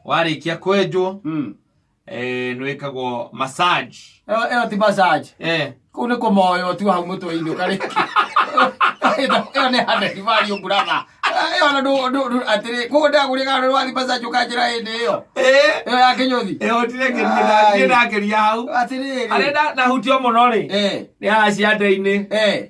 warĩkia kwenjwo Mm. eh, nĩwĩkagwo massage Ĩyo ĩyo ti massage. eh, Kũu nĩ kũmoywo tu hau mũtwe-inĩ ũkarĩkia. Ĩyo nĩ handeki value brother. Ĩyo ona ndũ- ndũ- ndũ- atĩrĩ, kũu ndagũrĩka andũ wathiĩ massage ũkanjĩra hĩndĩ ĩyo. eh, Ĩyo ya kĩnyũthi. eh, otire Ai. ngĩndakeria hau Atĩrĩ. arĩa na- nahutio mũno rĩ Eh, nĩ haha ciande-inĩ eh.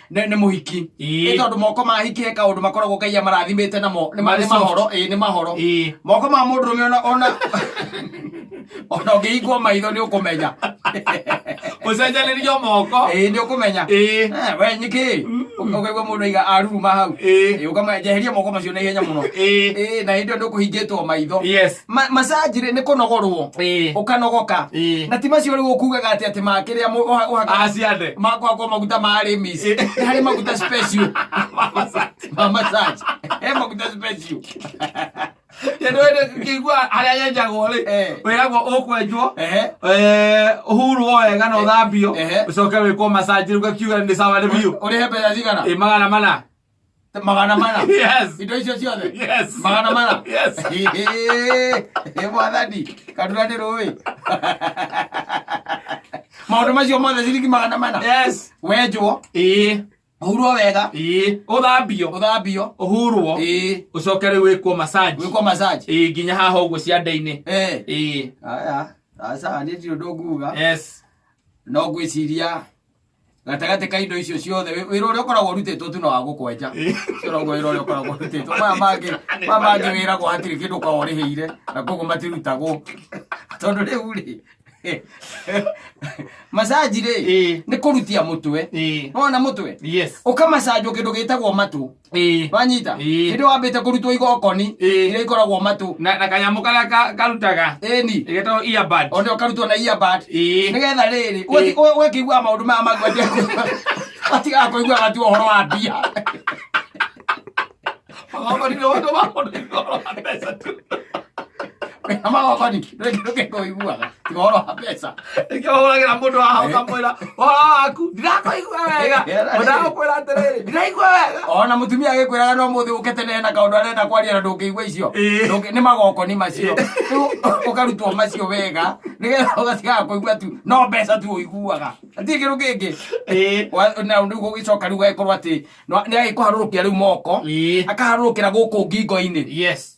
nĩ nĩ mũhiki Ĩĩ. ĩ tondũ moko ma hiki he kaũndũ makoragwo ngai amarathimĩte namo nĩ ma- nĩ Marisol. mahoro ĩ nĩ mahoro Ĩĩ. moko ma mũndũ rũme ona ona ona ũngĩhingwo maitho nĩ ũkũmenya ũcenjanĩrio moko ĩ nĩ ũkũmenya Ĩĩ. Eh, we nyikĩ ũkaigua mũndũ aiga aruruma hau Ĩĩ. Ĩ, ũkamenyeheria moko macio na ihenya mũno Ĩĩ. Ĩ, na hĩndĩ ĩyo nĩ ũkũhingĩtwo maitho yes Ma- massage rĩ nĩ kũnogorwo Ĩĩ. ũkanogoka Ĩĩ. na ti macio rĩu ũkugaga atĩ atĩ makĩrĩa mũ- ũha- ũhaka- Aciande. makwakwo maguta ma arĩmis Ĩĩ. Nĩ harĩ maguta special ma massage he maguta special kĩigua harĩa yenjagwo rĩ Eh. wĩragwo ũkwenjwo Ehe. eh, ũhurwo wega na ũthambio Ehe. ũcoke wĩkwo masanjĩ rĩu gakiuga nĩ sawa nĩ biũ ũrĩhe mbeca cigana Ĩ, magana mana magana mana Yes. indo icio ciothe Yes. magana mana Yes. ä mwathani katuna ndä rå ä maå ndå macio mothe ciringi magana mana Yes. wenjwo Ĩĩ. å hurwo wega Ĩĩ. Ũthambio. å thambio Ũhurwo. ä Ũcoke rĩu wĩkwo massage. gwä kwo massage Ĩĩ, nginya haha ũguo ciande-inĩ. Eh. Ĩĩ. aya aca nä tirå ndå nguga Yes. no ngwä ciria gatagatĩ ka indo icio ciothe wĩ- wĩra ũrĩa ũkoragwo ũrutĩtwo tu na wa gũkwenja ũcio noguo wĩra ũrĩa ũkoragwo ũrutĩtwo maya mangĩ maya mangĩ wĩragwo hatirĩ kĩndũ ũkoragwo ũrĩhĩire na koguo matirutagwo tondũ rĩu rĩ masaji rĩ Ĩĩ. nĩ kũrutia mũtwe Ĩĩ. wona mũtwe yes ũkamacanjwo kĩndũ gĩtagwo matũ Ĩĩ. wanyita Ĩĩ. hĩndĩ wambĩte kũrutwo igokoni Ĩĩ. iria ikoragwo matũ na na kanyamå karä a ka- karutaga ĩni getagwo earbud. onde ũkarutwo na iabad Ĩĩ. nĩgetha rĩrĩ Ĩĩ. ũgakĩigua maũndũ maya magwete atigaga kũigua gatu ũhoro wa mbia Magongoni nĩ ũndũ wa mũndũ nĩ ũhoro wa mbeca tu. na magokoni ndũkĩiguaga tiga ũhoro wa mbeca nĩkĩo hũragĩra mũndũ haha ũkamwĩra ũhoro waku ndirakwĩigua wega ũndagũkwĩra atĩrĩrĩ ndiraigua wega ona mũtumia agĩkwĩraga no mũthĩ ũke tene na kaũndũ arenda kwaria na ndũngĩigua icio Ĩĩ. Ndũngĩ- nĩ magoko nĩ macio Rĩu ũkarutwo macio wega nĩgetha ũgatigaga kũigua tu no mbeca tu ũiguaga atirĩ kĩndũ kĩngĩ Ĩĩ. Wa- na rĩu gũgĩcoka rĩu gagĩkorwo atĩ nĩ agĩkũharũrũkia rĩu moko Ĩĩ. akaharũrũkĩra gũkũ ngingo-inĩ yes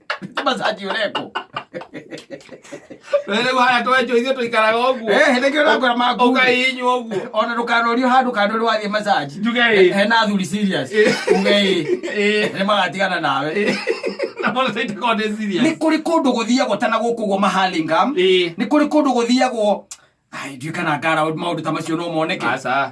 masaji ureko Rĩrĩ haya twenjwo ithuĩ tũikaraga ũguo. eh hende kĩo nakora maku Ũkainywo ũguo. ona ndũkanorio handũ kando nĩ wathiĩ masaji Njuge ĩ. he na athuri serious Eh. uge ĩ Ĩ. nĩ magatigana nawe Na mbona sasa itakuwa ni serious? nä kå rä kå ndå gå thiagwo tana gå kå guo mahalingam Ĩ. nä kå rä kå ndå gå thiagwo ndiå kana ngara maå ndå ta macio no moneke Aca.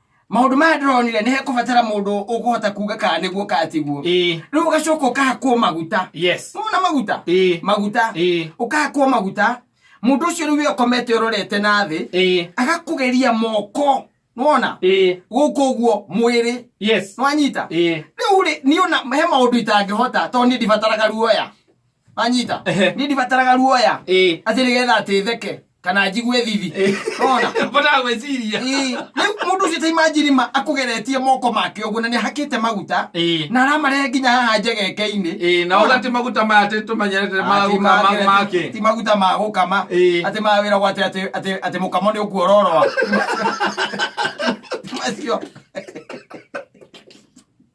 maundu maya ndironire ni hekubatara mundu ukuhota kuga kana niguo kana tiguo Ĩĩ. riu ugacoka ukahakwo maguta yes mona maguta Ĩĩ. maguta Ĩĩ. ukahakwo maguta mundu ucio riu we ukomete urorete na thi Ĩĩ. agakugeria moko nona Ĩĩ. guku uguo mwiri yes nwanyita Ĩĩ. riu ri ni ona he maundu itangihota tondu ni ndibataraga ruoya manyita Ehe. ni ndibataraga ruoya Ĩĩ. atä nä getha atä theke kana njigue thithi ona Mbotaga gwĩciria. rä u må ndå å cio ta imanjiri ma akå geretie moko make å guo na nä ahakä te maguta Ĩĩ. na aramarehe nginya haha njegeke-inä Ĩĩ, na ũgati maguta maya atĩ tũmenyerete ma gũka ma make. ti maguta ma gå kama Ĩĩ. atä ma wä ra gwa atä må kamo nä å kuororoa macio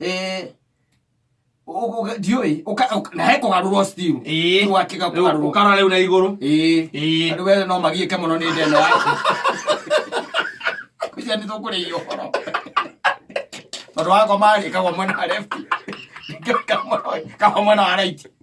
Eh, ũgũ- ũgũ- ndiũĩ Ũka- ũka- na he kũgarũrwo still. Ĩĩ. Ũgakĩga kũgarũrwo. ũkara rĩu na igũrũ Ĩĩ. Ĩĩ. Andũ wee no magiĩke mũno nĩ ndeno yaku kũcia nĩ tũkũrĩia ũhoro tondũ wakoma ĩkagwo mwena wa left ĩkagwo mwena wa right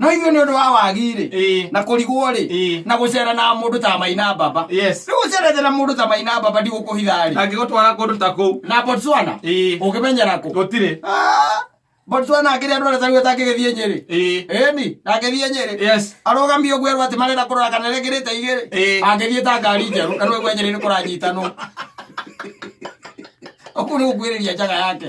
no ithuĩ nĩ ũndũ wa wagi-rĩ Ĩĩ. na kũrigwo-rĩ Ĩĩ. na gũcera na mũndũ ta maina baba Yes. rĩu ũcerete na mũndũ ta maina baba ndigũkũhitha-rĩ angĩgũtwara kũndũ ta kũu na botswana Ĩĩ. ũngĩmenyera kũ gũtirĩ Ah, botswana akĩrĩa andũ arĩa tarĩu atangĩgĩthiĩ nyĩrĩ Ĩĩ. ĩni ndangĩthiĩ nyĩrĩ yes arũgami ũguo erwo atĩ marenda kũrora kana rĩkĩrĩte igĩrĩ Ĩĩ. angĩthiĩ ta ngari njerũ kana ũguo nyĩrĩ nĩ kũranyitanwo ũkuu nĩ gũkuĩrĩria njaga yake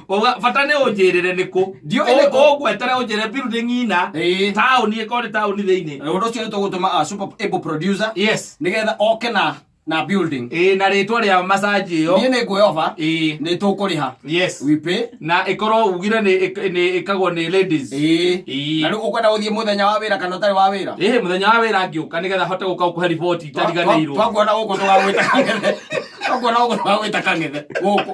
Ũga- bata nĩ ũnjĩrĩre nĩ kũ Ndiũĩ nĩ kũ. ũgwetere ũnjĩre biru nĩ ng'ina Ĩĩ. taũni ĩkorwo nĩ taũni thĩinĩ Na ũndũ ũcio nĩ tũgũtũma a super able producer yes nĩgetha oke na na building ĩĩ na rĩtwa rĩa masaji ĩyo niĩ nĩ nguoya oba ĩĩ nĩ tũkũrĩha yes we pay na ĩkorwo ugire nĩ ĩk- nĩ ĩkagwo nĩ ladies ĩĩ Ĩĩ. na rĩu ũkwenda gũthiĩ mũthenya wa wĩra kana ũtarĩ wa wĩra ĩĩ mũthenya wa wĩra ngĩũka nĩgetha hote gũka gũkũhe riboti itariganĩirwo twakuona gũkũ tũgagwĩta kang'ethe twakuona gũkũ tũgagwĩta kang'ethe gũkũ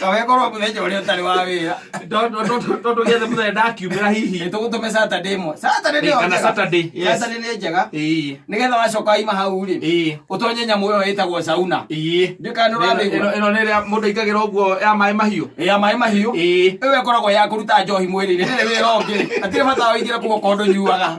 kawekorwo muthenya uria utari wa wira tondå gä athe må thenya ndakiumä ra hihi nitugutũme saturday ĩmwe saturday nĩyo kana njega. saturday yes. saturday nĩ njega Ĩĩ, nigetha wacoka waima hau rĩ ĩĩ, utonye nyamũ ĩyo ĩtagwo sauna ĩĩ. Ndiũ kana Ĩno- nĩũramĩigua. ĩno- ĩno nä rä a må ndå aingagä ra å guo ya maä mahiå ya maĩ mahiũ Ĩĩ. ĩyo ĩkoragwo ya kũruta njohi mwĩrĩ-inĩ ndĩrĩ wĩra ũngĩ atirĩ bata waingĩra kuo kondo nyuaga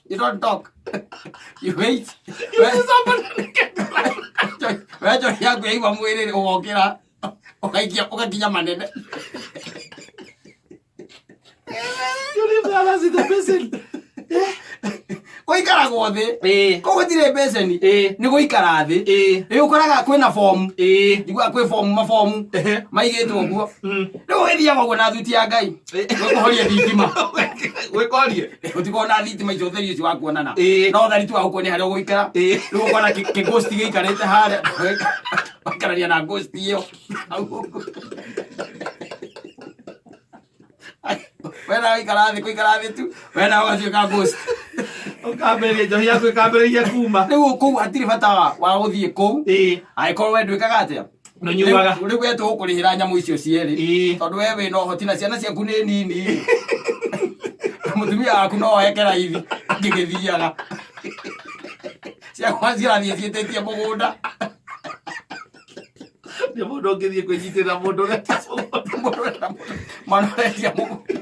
You don't talk. You wait. Wejo yangu yaigwa mwĩrĩ rĩ ũgokĩra ũgaikia ũgakinya manene. You leave the others in the basin. Ũikaragwo thĩ. Eh. Koguo ndirĩ mbeceni. Eh. Nĩ gũikara thĩ. Eh. Rĩu ũkoraga kwĩna bomu. Eh. Njiguaga kwĩ bomu mabomu. Ehe. Maigĩtwo ũguo. Mm. Rĩu ũgĩthiaga ũguo na thuti ya Ngai. Nĩkũhoria thitima. Gwĩkorie. Ũtikona thitima icio ũtheri ũcio wa kuonana. Ĩĩ. No ũtheri tu wa gũkuonia harĩa ũgũikara. Ĩĩ. Rĩu ũkona kĩ- kĩ ghost gĩikarĩte harĩa. Waikarania na ghost ĩyo. Wena waikara thĩ kũikara thĩ tu. Wena ũgatuĩka ghost. Ũkambĩrĩria njohi yaku ĩkambĩrĩria kuma. Rĩu kũu hatirĩ bata wa- wa gũthiĩ kũu. Ĩĩ. Angĩkorwo we ndwĩkaga atĩa? No nyugaga. rä u etå gå kå rä hä ra nyamå icio cierä Ĩĩ. tondå we wä na å hoti na ciana ciaku nä nini må tumia waku no oeke raithi angä gä thiaga ciakwa cirathiä ciätä tie må gå nda Nĩ mũndũ ũngĩthiĩ kwĩnyitĩrĩra mũndũ ũreta mũgũnda. mwana å retia må gå nda